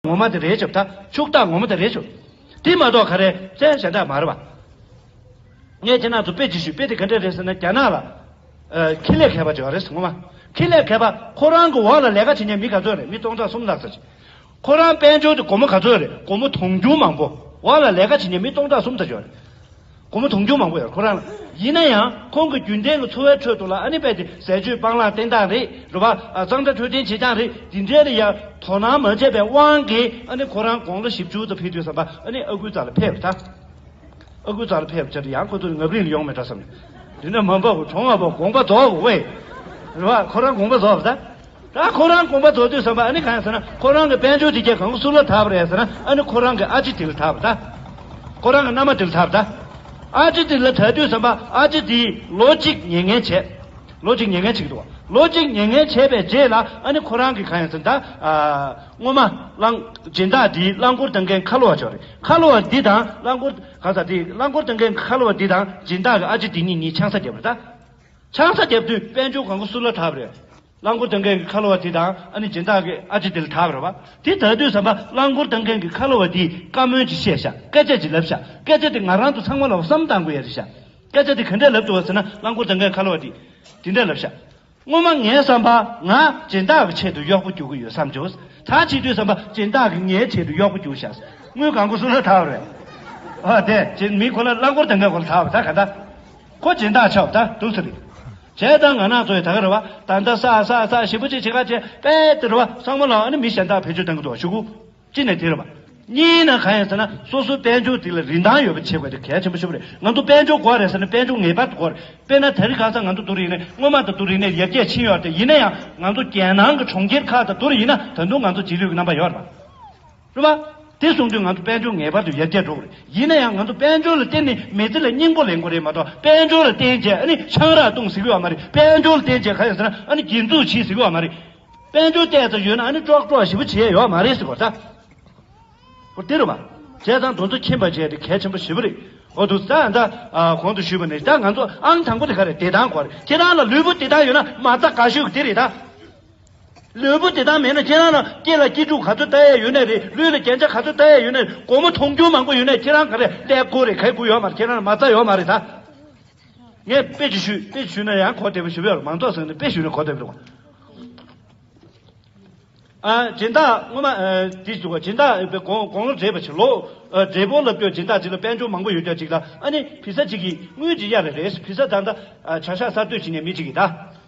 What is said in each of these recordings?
ངོ་མ་དེ་རེད་བྱབ་ཐག་ཕྱུག་རྟགས་ངོ་མ་དེ་རེད་བྱུག་དེ་མ་གཏོགས་ག་རེ་བཙན་བྱ་འདྲ་མ་རེད་བ། ངས་དེ་ནང་དུ་དཔེ་ཅིག་ཞུས་དཔེ་དེ་ག་འདྲ་རེད་ཟེར་ན་རྒྱ་ནག་ལ། ཁེ་ལས་མཁས་པ་བྱོས་བ་རེད་ངོ་མ། ཁེ་ལས་མཁས་པ་ཁོ་རང་གི་འོག་ལ་ལས་ཀ་བྱེད་མཁན་མི་ག་ཚོད་རེད་མི་སྟོང་ཕྲག་གསུམ་ལྷག་ཙམ་བྱེད། ཁོ་རང་དཔལ་འབྱོར་དེ་སྒོར་མོ་ག་ཚོད་རེད་སྒོར་མོ་དུང་ཕྱུར་མང་པོ་འོག་ལ་ལས་ཀ་བྱེད་མཁན་མི་སྟོང་ཕྲག་གསུམ་ཙམ་བྱོས་བ་རེད། སྒོར་མོ་དུང་ཕྱུར་མང་པོ་ཡོད་ཁོ་རང་ལ། ཡིན་ན་ཡང་ཁོང་གི་རྒྱུན་ལྡན་གྱི་འཚོ་བའི་ཁྲོད་དུ་ལ་ཨ་ནི་པད་དེ་ཟས་སྤྱོད་སྤང་བླང་བསྟེན་སྟངས་རེད་རེད་བ། གཙང་སྦྲ་འཕྲོད་བསྟེན་བྱེད་སྟངས་རེད་འདི་འདྲའི་ལ་ཡང་དོ་སྣང་མ་བྱས་པའི་དབང་གིས་ཨ་ནི་ཁོ་རང་དགོང་ལོ་བཞི་བཅུ་དང་ཕི་དུས་བསམ་པ་ཨ་ནི་ཨ་ཁུའི་རྩ་ལ་ཕེབས་པ་དང། ཨ་ཁུའི་རྩ་ལ་ཕེབས་བྱས་ཏེ་ཡང་ཁོ་ཚོ་ནི་ངབ་རིང་ལ་ཡོང་མེད་འདྲ་བསམ་ནས། དེ་ནས་མ་འབབ་བུ་གྲོངས་བ་པོ་དགོངས་པ་རྫོགས་བས། རེད་བ། ཁོ་རང་དགོངས་པ་རྫོགས་བ་དང། ད་ཁོ་རང་དགོངས་པ་རྫོགས་དུས་བསམ་པ་ཨ་ནི་གང་ཡང་ཟེར་ན་ཁོ་རང་གི་དཔལ་འབྱོར་གྱི་རྒྱལ་གང་གི་སུག་ལ་ད་བ་རེད་ཟེར་ན་ཨ་ནི་ཁོ་རང་གི་ཨ་ཅེ་དིལ་ད་བ་ད། ཁོ་རང་གི་མནའ་མ་དིལ་ད་བ་ད། ཨ་ཅེ་དིལ་ལ་དྲ་དུས་བསམ་པ་ཨ་ཅེ་དིལ་ལོ་གཅིག་ཉེ་ངན་བྱས། ལོ་གཅིག་ཉེ་ངན་བྱེད་ཀྱི་འདུག་བ་ལོ་གཅིག་ཉེ་ངན་བྱས་པའི་རྗེས་ལ་ཨ་ནི་ཁོ་རང་གི་གང་ཡང་ཟེར་ན་ད། སྔོན་མ་རླངས། སྦྱིན་བདག་འདིའི་རླངས་འཁོར་སྟོན་མཁན་ཁ་ལོ་བ་མཆོག་རེད་ཁ་ལོ་བ་འདི་དང་རླངས་འཁོར་གང་ཟག་དེའི་རླངས་འཁོར་སྟོན་མཁན་ཁ་ལོ་བ་འདི་དང་སྦྱིན་བདག་གི་ཨ་ཅེ་དིལ་གཉིས་གཉིས་ཆང་ས་རྒྱབ་པ་ད། ཆང་ས་རྒྱབ་དུས་དཔལ་འབྱོར་གང་གོ་སུ་ལ་ཐབས་རེད། རླངས་འཁོར་འདང་མཁན་གྱི་ཁ་ལོ་བ་དེ་དང་ཨ་ནི་སྦྱིན་བདག་གི་ཨ་ཅེ་དེ་ལ་ཐབས་རེད་བ། དེ་ད་དུས་བསམ་པ་རླངས་འཁོར་འདང་མཁན་གྱི་ཁ་ལོ་བ་དེས་བཀའ་མོལ་གྱི་བཤད་བྱ་སྐད་ཆ་གྱི་ལབ་བྱ་སྐད་ཆ་དེ་ང་རང་དུ་ཚང་མ་ལ་བསམ་བཏང་དགོས་ཡ་རེད་བྱ་སྐད་ཆ་དེ་ག་འདྲས་ལབ་འདུག་བ་ཟེར་ན་རླངས་འཁོར་འདང་མཁན་ཁ་ལོ་བ་དེས་དེ་འདྲས་ལབ་བྱ། སྔོན་མ་ངའི་བསམ་པ་ང་སྦྱིན་བདག་གི་ཆེད་དུ་གཡོག་པོ་རྒྱུག་གི་ཡོད་བསམ་བྱུང། ད་ཕྱི་དུས་བསམ་པ་སྦྱིན་བདག་གིས་ངའི་ཆེད་དུ་གཡོག་པོ་རྒྱུག་བྱ་དངུལ་གང་གོ་སུ་ལ་ཐབས་རེད་བ། དེ་བྱས་ནས་མི་ཁོ་ན་རླངས་འཁོར་འདང་མཁན་ཁོ་ལ་ཐབས་རེད་ད་ག་འདྲ། ཁོ་སྦྱིན་བདག་ཆགས་བདག་དུག་ཚེ་རིང། བྱས་ཙང་ང་ནག་ཚོའི་ད་ག་ར་བ་ད་ལྟ་ས་ས་ས་ཞེ་པོ་ཅིག་བྱེད་ག་བྱེད་པས་དེ་ར་བ་སངས་མ་ལགས་ཨ་ནི་མི་གཞན་དག་བེད་སྤྱོད་གཏང་གི་འདུག་ཤུ་གུ། གཅིག་ནས་དེ་ར་བ། གཉིས་ནས་གང་ཡིན་ཟེར་ན་སོ་སོའི་དཔལ་འབྱོར་དེ་ལ་རིན་ཐང་ཡོད་པ་བྱེད་དགོས་དེ་གལ་ཆེན་པོ་ཤུ་བ་རེད་ང་ཚོ་དཔལ་འབྱོར་འགོ་བ་རེད་ཟེར་ན་དཔལ་འབྱོར་ངེས་པར་དུ་འགོ་རེད་དཔེར་ན་ད་རིང་གང་ས་ང་ཚོ་དུ་རིང་ནས་སྔོན་མ་ད་དུ་རིང་ནས་ཡར་རྒྱས་ཕྱིན་ཡོད་རེད་ཡིན་ན་ཡང་ང་ཚོ་རྒྱལ་ནང་གི་གྲོང་ཁྱེར་ཁག་ད་དུ་རིང་ཡིན་ན་ད་དུང་ང་ཚོ་རྗེས་ལུས་ཀི་རྣམ་པ་ཡོད་རེད། སློབ་མ། དེ་གསུངས་དུས་ང་ཚོ་དཔལ་འབྱོར་ངེས་པར་དུ་ཡར་རྒྱས་འགྲོ་དགོས་རེད། ཡིན་ན་ཡང་ང་ཚོ་དཔལ་འབྱོར་ལ་བརྟེན་ནས་མི་ཚེ་ལ་སྙིང་པོ་ལེན་དགོས་རེད་མ་གཏོགས་དཔལ་འབྱོར་ལ་བརྟེན་རྗེས་ཨ་ནི་ཆང་རག་བཏུང་ཟིག་གི་བ་མ་རེད་དཔལ་འབྱོར་ལ་བརྟེན་རྗེས་ག་ཡང་ཟེར་ན་ཨ་ནི་སྒྱིད་འཛུགས་བྱེད་ཟིག་གི་བ་མ་རེད། དཔལ་འབྱོར་བལྟས་ཙམ་ཡོད་ན་ཨ་ནི་ཀྲོག་ཀྲོག་ཞིག་པོ་བྱེད་ཡས་ཡོད་བ་མ་རེད་ཟེར་དགོས་རེད་ད། དེ་རུ་མ། བྱས་ཙང་འདུ་འཛོ་ཁྱིམ་པ་བྱས་དེ་གལ་ཆེན་པོ་ཞེ་པོ་རེད་འོ་འདུག་ད་ད་གོང་དུ་ཞུས་པ་ནས་ད་ང་ཚོ་ཨང་དང་པོ་དེ་ག་རེད་དེ་ལྡང་དགོས་རེད་ཁྱེད་རང་ལ་ལུས་པོ་དེ་ལྡང་ཡོད་ན་མ་རྩ་ག་ཤོས་ཀྱི་དེ་རེད་ད། ལུས་པོ་དེ་དག་མེད་ན་ཁྱེད་རང་ལ་སྐྱེས་ལ་སྐྱེས་འཁྲུག་ག་ཚོད་ལྟ་ཡས་ཡོད་ནས་རེད་ལུས་ལ་རྒྱན་ཆ་ག་ཚོད་ལྟ་ཡས་ཡོད་ནས་རེད་སྒོར་མོ་ཐོང་རྒྱུ་མང་པོ་ཡོད་ནས་ཁྱེད་རང་ག་རེ་ལས་སྒོར་རེ་ཁ་གུ་ཡོད་མ་རེད་ཁྱེད་རང་ལ་མ་རྩ་ཡོད་མ་རེད་ད་ངས་དཔེ་ཅིག་ཞུས་དཔེ་ཅིག་ཞུས་ན་ཡང་གོ་བདེ་པོ་ཞུ་བས་རོགས་མང་ཚོགས་ཟེར་ནས་དཔེ་ཞུས་ན་གོ་བདེ་པོ་རེད་བ། ཨ་སྦྱིན་བདག་སྔོན་མ་འདི་ཞུ་བ་སྦྱིན་བདག་པའི་དགོང་དགོང་ལོ་འདྲེས་པ་ཞིག་ལོ་འདྲེས་པོ་ལབ་རྒྱུ་སྦྱིན་བདག་ཅིག་ལ་དཔལ་འབྱོར་མང་པོ་ཡོད་རྒྱ་ཅིག་ལ་ཨ་ནི་བི་ས་ཅིག་གིས་དངུལ་ཅིག་གཡར་རེ་རེད་བི་ས་བདག་འདྲ་བྱ་ཤ་གསར་གཏོད་བྱེད་ནས་མི་ཅིག་གིས་ད།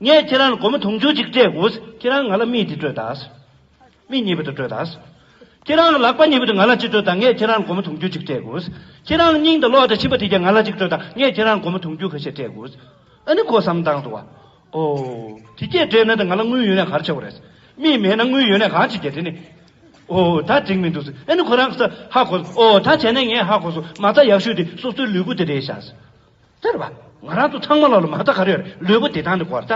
ངས་ཁྱེད་རང་ལ་སྒོར་མོ་དུང་ཕྱུར་གཅིག་སྤྲད་འོས་ཁྱེད་རང་ང་ལ་རྨིས་འདི་སྤྲོད་དཱ། རྨིས་གཉིས་པ་དེ་སྤྲོད་དཱ། ཁྱེད་རང་ལ་ལག་པ་གཉིས་པ་དེ་ང་ལ་གཅིག་སྤྲོད་དཱ་ངས་ཁྱེད་རང་ལ་སྒོར་མོ་དུང་ཕྱུར་གཅིག་སྤྲད་འོས། ཁྱེད་རང་ལ་སྙིང་དང་གློག་དང་མཆིན་པ་དེ་བརྒྱ་ང་ལ་གཅིག་སྤྲོད་དཱ་ངས་ཁྱེད་རང་ལ་སྒོར་མོ་དུང་ཕྱུར་ཁ་ཤས་སྤྲད་འོས། ཨ་ནི་ཁོ་བསམ་སྟངས་འདུག་བ། ཨོ། དེ་སྐད་སྤྲད་ན་དེ་ང་ལ་དངུལ་ཡོད་ན་གར་ཆག་གོ་རེད། རྨིས་མེད་ན་དངུལ་ཡོད་ན་གང་བྱེད་རྒྱ་དེ་ནི། ཨོ། ད་འགྲིག་མི་འདུག་ཨ་ནི་ཁོ་རང་ཧ་གོ། ཨོ་ད་བྱས་ན་ངས་ཧ་གོ་སོང་མ་རྩ་ཡག་ཤོས་དེ་སོ་སོའི་ལུས་པོ་དེ་རེད་བྱ། ཟེར་བ། ང་རང་ཚོ་ཚང་མ་ལ་ལོ་མ་ལྟ་ག་རེ་ཡོད་རེད་ལུས་པོ་བདེ་ཐང་རེད་གོ་ད།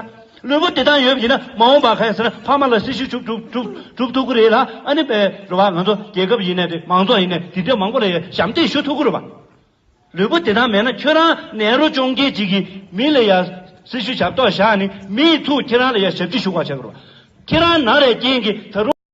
ལུས་པོ་བདེ་ཐང་ཡོད་ཡིན་ན་མ་འོངས་པ་ག་ཡིན་ཟེར་ན་ཕ་མ་ལ་སྲི་ཞུ་བྱུག་བསྒྲུབ་ཐུབ་ཀི་རེད་ལ་ཨ་ནི་པའི་རེ་བ་ང་ཚོ་རྒྱལ་ཁབ་ཡིན་ནས་དེ་མང་ཚོགས་ཡིན་ནས་དེ་འདྲའི་མང་པོ་ལ་ཡང་ཞབས་འདེགས་ཞུ་ཐུབ་ཀི་རེད་བ། ལུས་པོ་བདེ་ཐང་མེད་ན་ཁྱོད་རང་ནད་རོ་གཅོང་རྒྱལ་གཅིག་གིས་མི་ལ་ཡང་སྲི་ཞུ་བྱ་ལྟོགས་བཞག་ནི་མི་ཡི་ཐུགས་ཁྱེད་རང་ལ་ཡང་ཞབས་འདྲི་ཞུ་བ་བྱ་ཀི་རེད་བ། ཁྱེད་རང་ནག་རའི་རྐྱེན་གྱིས་ད་རུང།